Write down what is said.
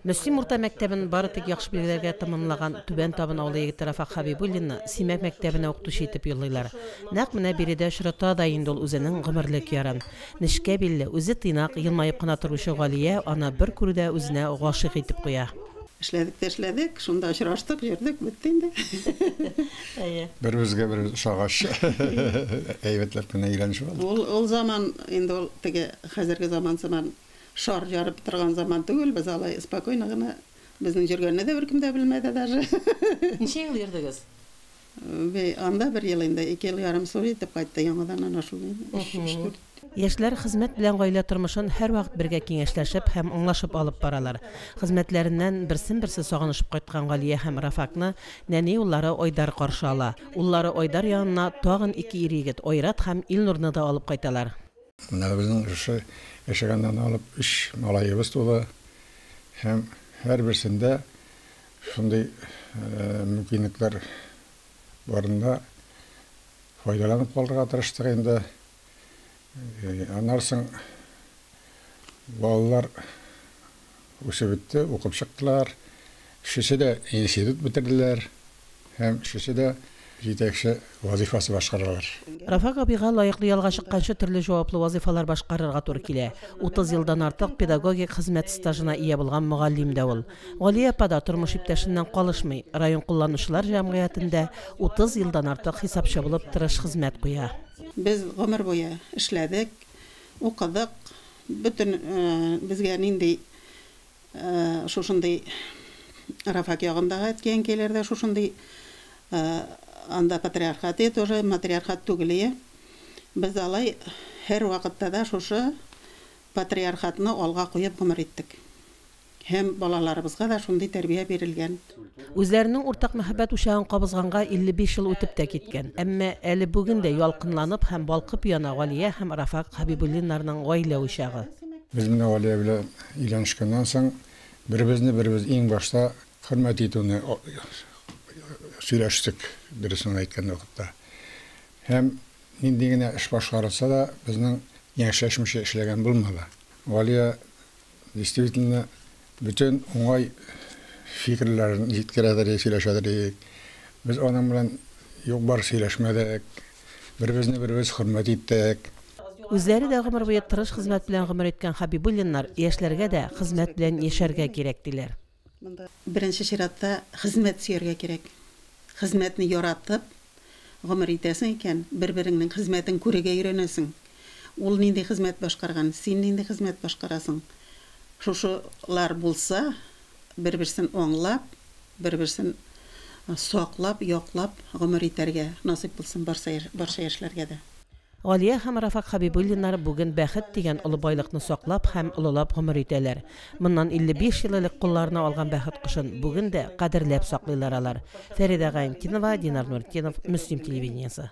Мөслим урта мәктәбен бары тик яхшы билгеләргә тәмамлаган Түбән Табын авылы егете Рафак Хәбибуллинны Симәк мәктәбенә укытучы итеп юллыйлар. Нәкъ менә биредә очрата да инде ул үзенең гомерлек ярын. Нечкә билле, үзе тыйнак, елмаеп кына торучы Галия аны бер күрүдә үзенә гашыйк итеп куя. Эшләдек тә эшләдек, шунда очраштык, йөрдек, бетте инде. Әйе. Беребезгә беребез ошагач, әйбәтләп кенә өйләнешеп алдык. Ул заман инде ул теге хәзерге заман сыман Шар ярып торган заман түгел, без алай спокойно гына, безнең җөргәнне дә беркем дә белмәде даже. Ничә ел йөрдегез? Бе, анда бер ел инде, ике ел ярым Сури итеп кайтты, яңадан ана шул ин, өч, өч-дүрт. Яшьләр хезмәт белән гаилә тормышын һәрвакыт бергә киңәшләшеп һәм аңлашып алып баралар. Хезмәтләреннән берсен-берсе сагынышып кайткан Галия һәм Рафакны нәни уллары Айдар каршы ала. Уллары Айдар янына тагын ике ир-егет, Айрат һәм Илнурны да алып кайталар. Менә безнең шушы яшәгәннән алып өч малаебыз туды һәм һәрберсендә шундый мөмкинлекләр барында файдаланып калырга тырыштык инде. Аннары соң балалар үсеп үтте, укып чыктылар. Өчесе дә институт бетерделәр һәм өчесе дә җитәкче вазыйфасы башкаралар. Рафак абыйга лаеклы ялга чыкканчы төрле җаваплы вазыйфалар башкарырга туры килә. Утыз елдан артык педагогик хезмәт стажына ия булган мөгаллим дә ул. Галия апа да тормыш иптәшеннән калышмый, район кулланучылар җәмгыятендә утыз елдан артык хисапчы булып тырыш хезмәт куя. Без гомер буе эшләдек, укыдык, бөтен безгә нинди шушындый Рафак ягындагы әткәй-әнкәйләр дә шушындый анда патриархат ие тоже, матриархат түгел ие. Без алай һәрвакытта да шушы патриархатны алга куеп гомер иттек. Һәм балаларыбызга да шундый тәрбия бирелгән. Үзләренең уртак мәхәббәт учагын кабызганга 55 ел үтеп тә киткән, әмма әле бүген дә ялкынланып һәм балкып яна Галия һәм Рафак Хәбибуллиннарның гаилә учагы. Без менә Галия белән өйләнешкәннән соң, беребезне-беребез иң башта хөрмәт итүне сөйләштек, дөресен әйткән вакытта. Һәм нинди генә эш башкарылса да, безнең яньчәшмичә эшләгән булмады. Галия Действительно, бөтен уңай фикерләрен җиткерәдер идек, сөйләшәдер идек. Без аның белән юк-бар сөйләшмәдек. Беребезне-беребез хөрмәт иттек. Үзләре дә гомер буе тырыш хезмәт белән гомер иткән Хәбибуллиннар яшьләргә дә хезмәт белән яшәргә кирәк, диләр. Монда, беренче чиратта, хезмәт сөяргә кирәк. Хезмәтне яратып гомер итәсең икән, бер-береңнең хезмәтен күрергә өйрәнәсең. Ул нинди хезмәт башкарган, син нинди хезмәт башкарасың. Шушылар булса, бер-берсен аңлап, бер-берсен саклап, яклап гомер итәргә насыйп булсын барса, барча яшьләргә дә. Галия һәм Рафак Хәбибуллиннар бүген бәхет дигән олы байлыкны саклап һәм олылап гомер итәләр. Моннан 55 ел элек кулларына алган бәхет кошын бүген дә кадерләп саклыйлар алар. Фәридә Гайнтинова, Динар Нуртдинов, Мөслим телевидениесе.